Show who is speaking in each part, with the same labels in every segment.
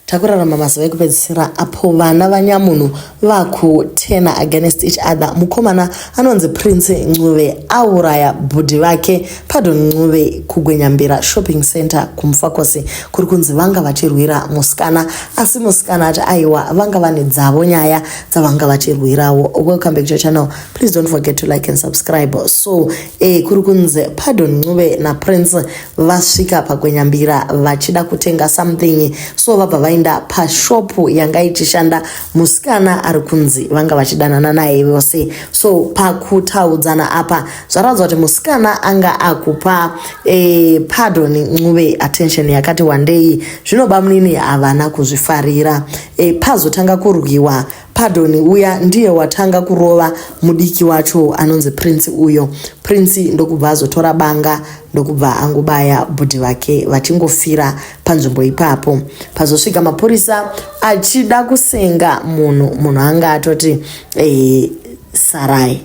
Speaker 1: Takurarama mazuva ekupedzisira apo vana vanyamunhu vakutena against each other. Mukomana anonzi Prince Ncube auraya bhudhi vake Pardon Ncube kuGwenyambira Shopping Center kuMufakose kuri kunzi vanga vachirwira musikana asi musikana ati aiwa vanga vane dzavo nyaya dzavanga vachirwirawo. Welcome back to your channel. Please don't forget to like and subscribe. So E, kuri kunzi pardon ncube naprince vasvika pagwenyambira vachida kutenga something so vabva vaenda pashop yanga ichishanda musikana ari kunzi vanga vachidanana naye vose so pakutaudzana apa zvaradzwa kuti musikana anga akupa e, pardon ncube attention yakati wandei zvinoba munini havana kuzvifarira e, pazotanga kurwiwa Pardon uya ndiye watanga kurova mudiki wacho anonzi Prince uyo. Prince ndokubva azotora banga ndokubva angobaya bhudhi vake vachingofira panzvimbo ipapo. Pazosvika mapurisa achida kusenga munhu, munhu anga atoti eh, sarai.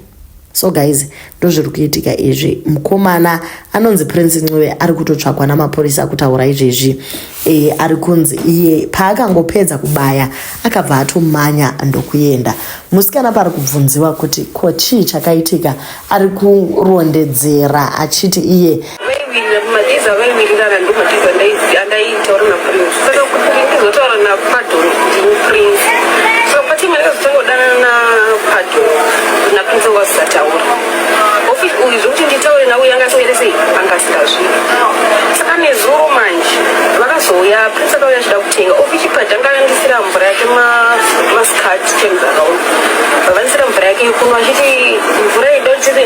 Speaker 1: so guys ndozviri kuitika izvi mukomana anonzi prince ncube ari kutotsvagwa namapurisa kutaura izvezvi e, ari kunzi iye paakangopedza kubaya akabva atomanya ndokuenda musikana paari kubvunziwa kuti ko chii chakaitika ari kurondedzera achiti iye vaiwirira mumadiza vaiwirirana ndomadiza andaitaura naprince saka kuti ndizotaura napadon ndini prince so patime ndakazotangodanana napadon naprince anga asisataura office uyu zvekuti nditaure navo yanga asingere sei anga asingazviri saka nezuro manje vakazouya prince
Speaker 2: akauya achida kutenga office pad anga andisira mvura yake mascart ten akaona vavandisira mvura yake yekunwa achiti mvura idotire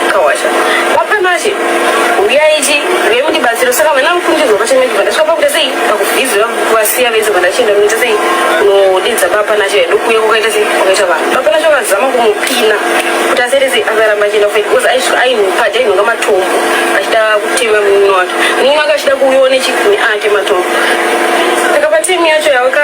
Speaker 2: Kawasha. Wapanashe. Uya ichi vemu ndibatsiro saka vana mukundizwa pachine kuti vandasvika pakuita sei pakubhizi vasiya vese vandachinda kunoita sei kunodidza papanashe vedu kuye kukaita sei kwakaita vanhu papanashe vakazama kumupina kuti asere sei akaramba achienda kufa because aisvika aimupaja inhonga matombo achida kutema munini wake munini wake achida kuuyiwa nechikuni ake matombo saka patimi yacho yavaka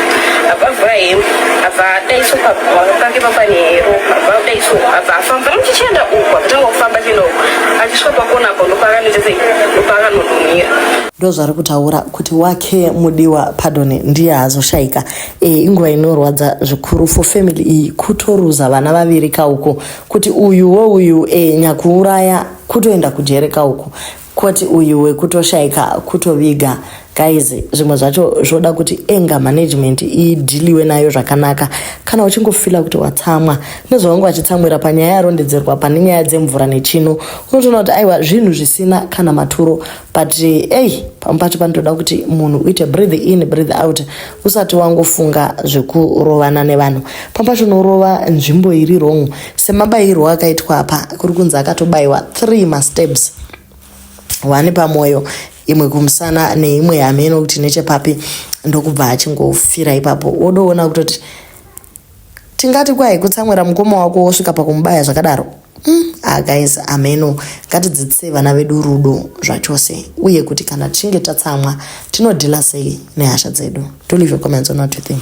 Speaker 2: abavuraim abva adaiso pagwaro pake papanhero abva adaiso abva afamba muchichienda uku akutanga kufamba chienda uku achisvika pakona apo ndopaakanetese ndopaakanodumira ndozvari
Speaker 1: kutaura kuti wake mudiwa padone ndiye azoshaika e, eh, inguva inorwadza zvikuru for family iyi kutoruza vana vaviri kauko kuti uyu wouyu e, eh, nyakuuraya kutoenda kujere kauko Koti uyu wekutoshaika kutoviga guys zvimwe zvacho zvoda kuti anger management idhiliwe nayo zvakanaka kana uchingofila kuti watsamwa nezvavangu vachitsamwira panyaya yarondedzerwa pane nyaya dzemvura nechino unotoona kuti aiwa zvinhu zvisina kana maturo but ei pamwe pacho panotoda kuti munhu uite breathe in breathe out usati wangofunga zvekurovana nevanhu pamwe pacho unorova nzvimbo iri wrong semabayirwo akaitwa apa kuri kunzi akatobayiwa three masteps one pamwoyo imwe kumusana neimwe hameno kuti nechepapi ndokubva achingofira ipapo wodoona kutoti tingati kwai kutsamwira mukoma wako wosvika pakumubaya zvakadaro mm, ah, guys ameno ngatidzidzisei vana vedu rudo zvachose uye kuti kana tichinge tatsamwa tinodhila sei nehasha dzedu to leave your comments on what you think